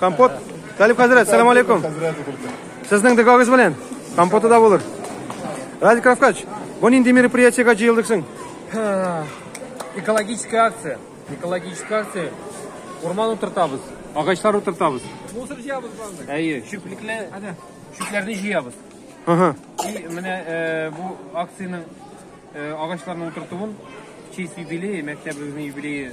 Компот. Талип хәзрәт, салам алейкум. Сезнең дөгагыз белән компоты да булыр. Радик Равкач, бу нинди мероприятиегә җыелдык соң? Экологическая акция. Экологическая акция. Урман утыртабыз. Агачлар утыртабыз. Мусор җыябыз барды. Әйе, чүплекле чүпләрне җыябыз. Ага. И менә э, бу акциянең э, агачларны утыртуын честь юбилее, мәктәбебезнең юбилее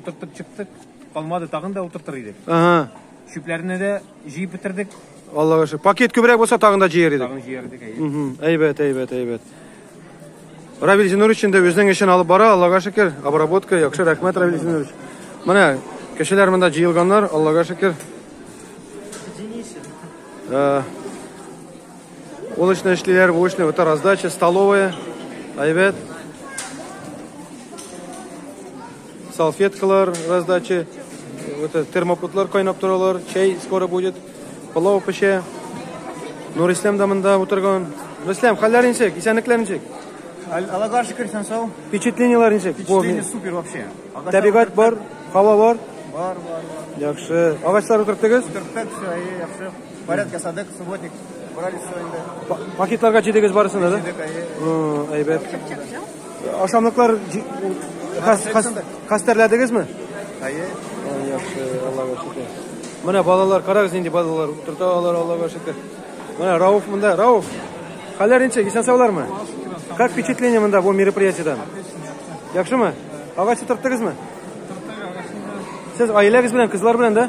Утыртып чыктык, калмады, тагын да утыртыр идек. Ага. Чүпләрне дә җыеп бетердек. Аллага шөкер. Пакет күбрәк булса тагын да җыер идек. Тагын җыер идек. Угу. Әйбәт, әйбәт, әйбәт. Равил Зинурович инде үзенең эшен алып бара, Аллага шөкер. Обработка яхшы, рәхмәт Равил Зинурович. Менә кешеләр монда җыелганнар, Аллага шөкер. Э, Ул эшне эшлиләр, бу эшне бөтә раздача, столовая, әйбәт. Салфеткалар раздача, бөтә термопотлар кайнап торалар, чәй скоро будет, пылау пешә. Нурислам да монда утырган. Нурислам, хәлләр ничек? Исәнлекләр ничек? Аллага шөкер, сән сау. Впечатлениеләр ничек? Впечатление супер вообще. Табигать бар, һава бар. Бар, бар, бар. Яхшы. Агачлар утырттыгыз? Утырттык, все, яхшы. Порядок ясадык, субботник брали все инде. Пакетларга җидегез барысына да? Җидек, әйе. Әйбәт. Ашамлыклар хәстәрләдегезме? Әйе. Яхшы, Аллага шөкер. Менә балалар, карагыз нинди балалар, утырта алар, Аллага шөкер. Менә Рауф монда, Рауф. Хәлләр ничек? Исән саулармы? Как впечатление монда бу мероприятиедән? Яхшымы? Агач утырттыгызмы? Сез аиләгез белән, кызлар белән да?